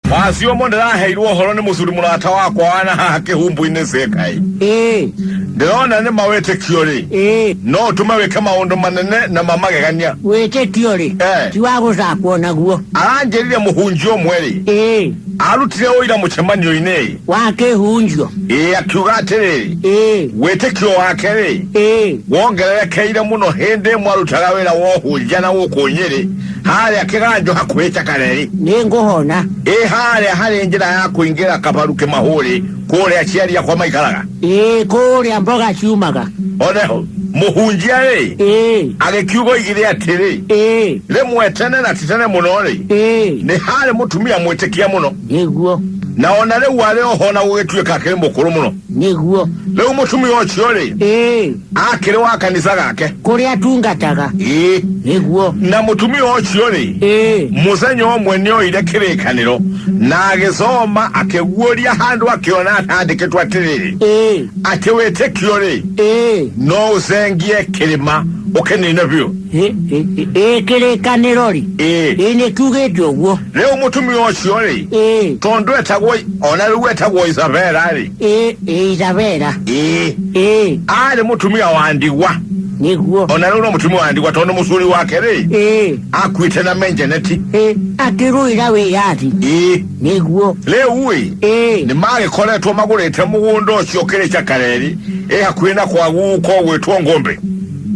wazi ũmwe ndĩraheirwo ũhoro nĩ mũthuri mũrata wakwa wana haha kĩhumbu-inĩ cĩkaĩ ĩĩ ndĩrona nĩ mawĩtĩkio rĩ ĩĩ no ũtũme wĩke maũndũ manene na mamagegania wĩtĩkio rĩ Eh. ti wa gũcakwo naguo aranjĩrire mũhunjia ũmwe rĩ ĩĩ arutire ũira mũcemanio-inĩ rĩ wa kĩhunjio ĩĩ akiuga atĩrĩrĩ ĩĩ wĩtĩkio wake rĩ ĩĩ wongererekeire mũno hĩndĩ ĩmwe arutaga wĩra wa ũhunjia na gũkũ nyĩrĩ harĩa kĩganjo hakuhĩ cakareri nĩ ngũhona ĩ harĩa harĩ njĩra ya kũingĩra kabaru kĩmahũrĩ kũrĩa aciari akwa maikaraga ĩ kũrĩa mboga ciumaga oneho mũhunjia rĩ ĩ agĩkiuga oigire atĩrĩ ĩ rĩmwe tene na ti tene mũno rĩ ĩ nĩ harĩ mũtumia mwĩtĩkia mũno nĩguo na ona rĩu arĩ oho na gũgĩtuĩka akĩrĩ mũkũrũ mũno nĩguo rĩu mũtumia ũcio rĩ ĩ akĩrĩ wa kanitha gake kũrĩa atungataga ĩĩ nĩguo na mũtumia ũcio rĩ ĩĩ mũthenya ũmwe nĩ oire kĩrĩkanĩro na agĩcoma akĩguũria handũ akĩona atandĩkĩtwo atĩrĩrĩ ĩĩ atĩ wĩtĩkio rĩ ĩĩ no ũcengie kĩrĩma ũkĩnine biũ ĩ- ĩ- ĩ- ĩ kĩrĩkanĩro rĩ ĩĩ ĩ nĩ kiugĩte ũguo rĩu mũtumia ũcio rĩ ĩĩ tondũ etagwo ona rĩu etagwo isabela rĩ ĩ ĩ itavera ĩ ĩ arĩ mũtumia wa ndigwa nĩguo ona rĩu no mũtumia wa ndigwa tondũ mũcuri wake rĩ ĩ akuĩte na menjeneti ĩ akĩrũĩra wĩyathi ĩ nĩguo rĩu ĩ ĩ nĩ magĩkoretwo magũrĩte mũgũnda ũcio kĩrĩ cakareri ĩ hakuhĩ na kwagu kogwĩtwo ngũmbĩ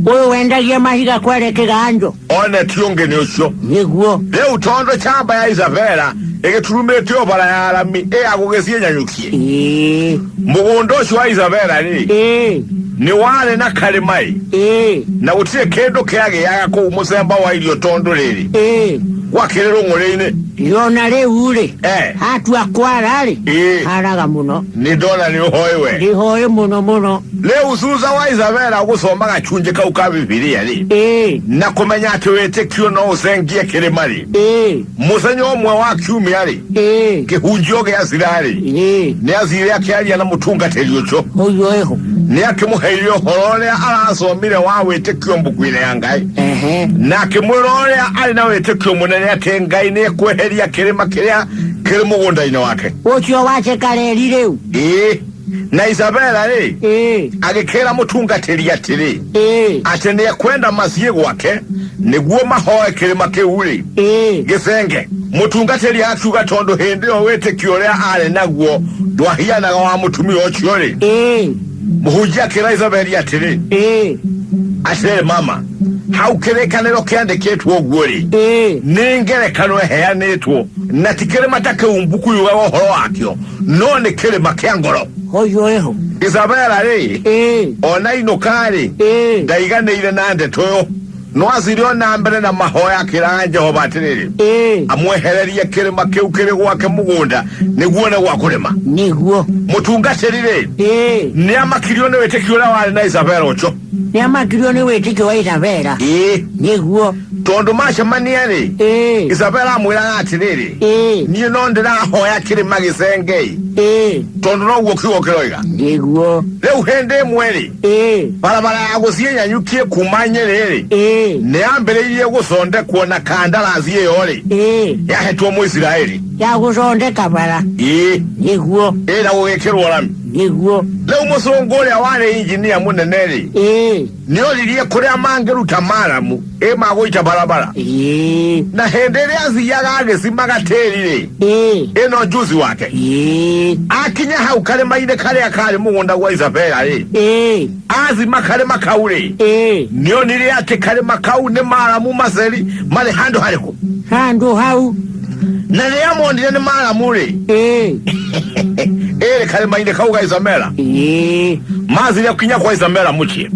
ũyũ wendagia mahiga kwere kĩganjo one ti ũngĩ nĩ ũcio nĩguo rĩu tondũ camba ya isabela ĩgĩturumĩte ũbara ya arami ĩya gũgĩciĩ nyanyũkie Ĩĩ, mũgũnda ũcio wa isabela rĩ ĩĩ, nĩ warĩ na karĩmaĩ ĩĩ, na gũtirĩ kĩndũ kĩagĩaga kũu mũcemba wa irio tondũ rĩrĩ ĩĩ. gwakĩrĩ rũng'ũrĩ-inĩ yona rĩu rĩ Eh. hatua kwara rĩ Ĩĩ. haraga mũno nĩ ndona nĩ ũhoĩ we ndĩhoĩ mũno mũno Leo usuza wa Isabela agusoma gacunje kau ka Bibilia ri ĩĩ na kumenya ati witikio no ucengie kirima ri ĩĩ muthenya umwe wa kiumia ri ĩĩ kihunjio gia cira ri ĩĩ ni athire akiaria na mutungatiri ucio mũiyo ĩho ni akimuheire uhoro uria aracomire wa witikio mbuku-ini ya ngai ehe na akimwira uria ari na witikio munene ati ngai ni ikweheria kirima kiria kiri mugunda-ini wake ũcio wacekareri rĩu ĩĩ Na Isabela rĩ ĩĩ agĩkĩra mũtungatĩri atĩrĩ ĩĩ atĩ nĩ ekwenda mathiĩ gwake nĩguo mahoe kĩrĩma kĩu rĩ ĩĩ gĩcenge mũtungatĩri akiuga tondũ hĩndĩ ĩyo wĩtĩkio ũrĩa arĩ naguo ndwahianaga wa mũtumia ũcio rĩ ĩĩ mũhunjia akĩra Isabeli atĩrĩ ĩĩ atĩrĩ mama hau kĩrĩkanĩro kĩandĩkĩtwo ũguo rĩ Ĩĩ. nĩ ngerekano ĩheanĩtwo na ti kĩrĩma ta kĩu mbuku yugaga ũhoro wakĩo no nĩ kĩrĩma kĩa ngoro Hoyo eho. isabela rĩ Ĩĩ. ona inũka rĩ Ĩĩ. ndaiganĩire na ndeto ĩyo no aciri ona mbere na mahoya akĩraga jehova atĩrĩrĩ Ĩĩ. amwehererie kĩrĩma kĩu kĩrĩ gwake mũgũnda nĩguo nĩ gwa kũrĩma Nĩguo. mũtungatĩri rĩ Ĩĩ. nĩ amakirio nĩ wĩtĩkio ũrĩa warĩ na isabela ũcio nĩ amakirio nĩ wĩtĩkio wa isabela ĩĩ nĩguo tondũ macemania-rĩ ĩĩ isabela amwĩraga atĩrĩrĩ ĩĩ niĩ no ndĩrahoya kĩrĩma gĩcengei ĩĩ tondũ noguo kiugo kĩroiga nĩguo rĩu hĩndĩ ĩmwe-rĩ ĩĩ barabara ya gũthiĩ nyanyukie kuma nyĩrĩ-rĩ ĩĩ nĩ yambĩrĩirie gũcondekwo na kandarasi ĩyo-rĩ ĩĩ yahetwo mũisiraeli ya gũthondeka bara ĩĩ nĩguo ĩĩ na gũgĩkĩrwo rami Nĩguo. Rĩu mũcũngũ ũrĩa warĩ injinia mũnene-rĩ, Ĩĩ. nĩoririe kũrĩa mangĩruta maramu ĩ magũita barabara Ĩĩ. na hĩndĩ ĩrĩa athiaga agĩcimaga tĩri-rĩ Ĩĩ. ĩno njuzi wake Ĩĩ. akinya hau karĩma-inĩ karĩa karĩ mũgũnda gwa isabela-rĩ Ĩĩ. athima karĩma kau-rĩ Ĩĩ. nĩonire atĩ karĩma kau nĩ maramu maceri marĩ handũ harĩkũ Handũ hau. na rĩrĩa monire nĩ maramu-rĩ ĩĩ ĩrĩ karĩma-inĩ kau ga isomera ĩĩ mathire kinya kwa isomera mũciĩ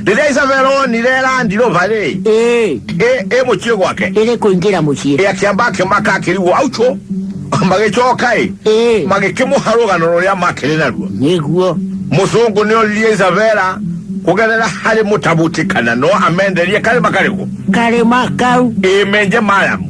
rĩrĩa isomera onire randirova-rĩ ĩĩ ĩ- ĩ mũciĩ gwake ĩrĩ kũingĩra mũciĩ ĩ akĩamba akĩmaka akĩrigwo auco magĩcoka-ĩ ĩĩ magĩkĩmũha rũgano rũrĩa makĩrĩ naruo nĩguo mũcũngũ nĩ oririe isabela kũgerera harĩ mũtabuti kana no amenderie karĩma karĩkũ karĩma kau ĩmenje maramu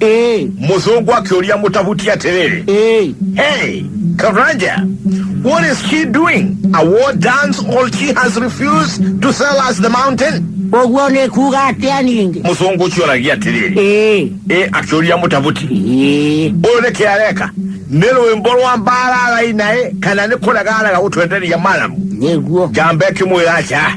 Ĩĩ, mũthũngũ akĩũria mũtabuti atĩrĩrĩ ĩĩ. hey karanja what is she doing a war dance all she has refused to sell us the mountain Ũguo nĩ kuuga atĩa ningĩ? mũthũngũ ũcio oragia atĩrĩrĩ Ĩĩ, ĩ akĩũria mũtabuti ĩĩ. ũyũ nĩ kĩ areka nĩ rwĩmbo rwa mbara araina ĩ kana nĩ kũrega arega gũtwenderia maramu Nĩguo. njamba ĩkĩmwĩra aca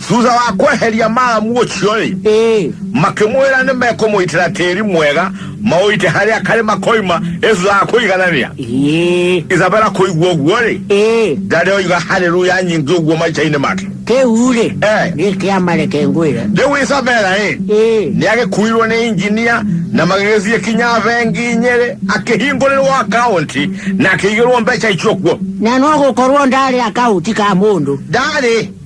thutha wa kweheria maamu ũcio-rĩ ĩĩ makĩmwĩra nĩ mekũmũitĩra tĩri mwega maũite harĩa karĩma koima ĩthutha wa kũiganania ĩĩ isabela kũigua ũguo-rĩ ĩĩ ndarĩ oiga haleluya nyingĩ ũguo maica-inĩ make kĩu-rĩ Eh. gĩkĩamareke ngwĩre rĩu isabela-ĩ ĩĩ nĩ agĩkuirwo nĩ injinia na magĩgĩthiĩ kinya bengi nyĩrĩ akĩhingũrĩrwo akaunti na akĩigĩrwo mbeca icio kuo na no gũkorwo ndarĩ akaunti ka mũndũ ndarĩ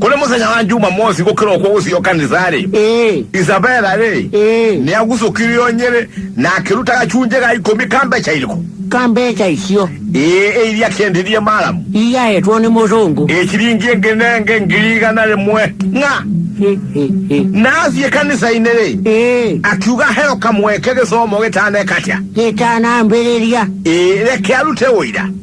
kuli muthenya wa njuma mosi gukirokwo gucio kanithari ĩĩ isabela ri ĩĩ ni agucukire onyere na akiruta gacunje ga ikumi ka mbeca iriku ka mbeca icio ĩĩ iria akiendirie malamu iyaetwo nĩ mũzungu ikiringi ĩngĩ nenge ngiri igana rĩmwe ng'a Hĩ, hĩ, hĩ. na athiĩ kanitha-inĩ rĩ ĩĩ akiuga heo kamweke gĩcomo gĩtanekatia gĩtanambĩrĩria ĩĩ reke arute ũira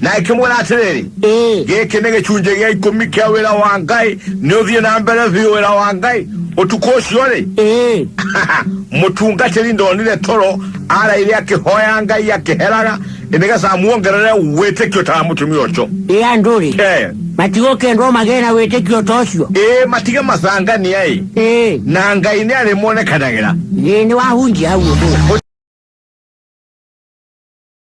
nake mwĩra atĩrĩrĩ Ĩĩ. gĩkĩ nĩ gĩcunjĩ gĩa ikũmi kĩa wĩra wa ngai nĩ ũthiĩ na mbere biũ wĩra wa ngai ũtukũ ũcio-rĩ Ĩĩ. mũtungatĩri ndonire toro araire akĩhoya ngai akĩheraga nĩgetha amuongerere wĩtĩkio ta wa mũtumia ũcio Ĩ andũ-rĩ, Eh, matigũkĩendwo magĩe na wĩtĩkio ta ũcio. ĩĩ matige macangania-ĩ Ĩĩ. na ngai nĩ arĩmonekanagĩra Ĩĩ nĩwahunjia hau ũguo.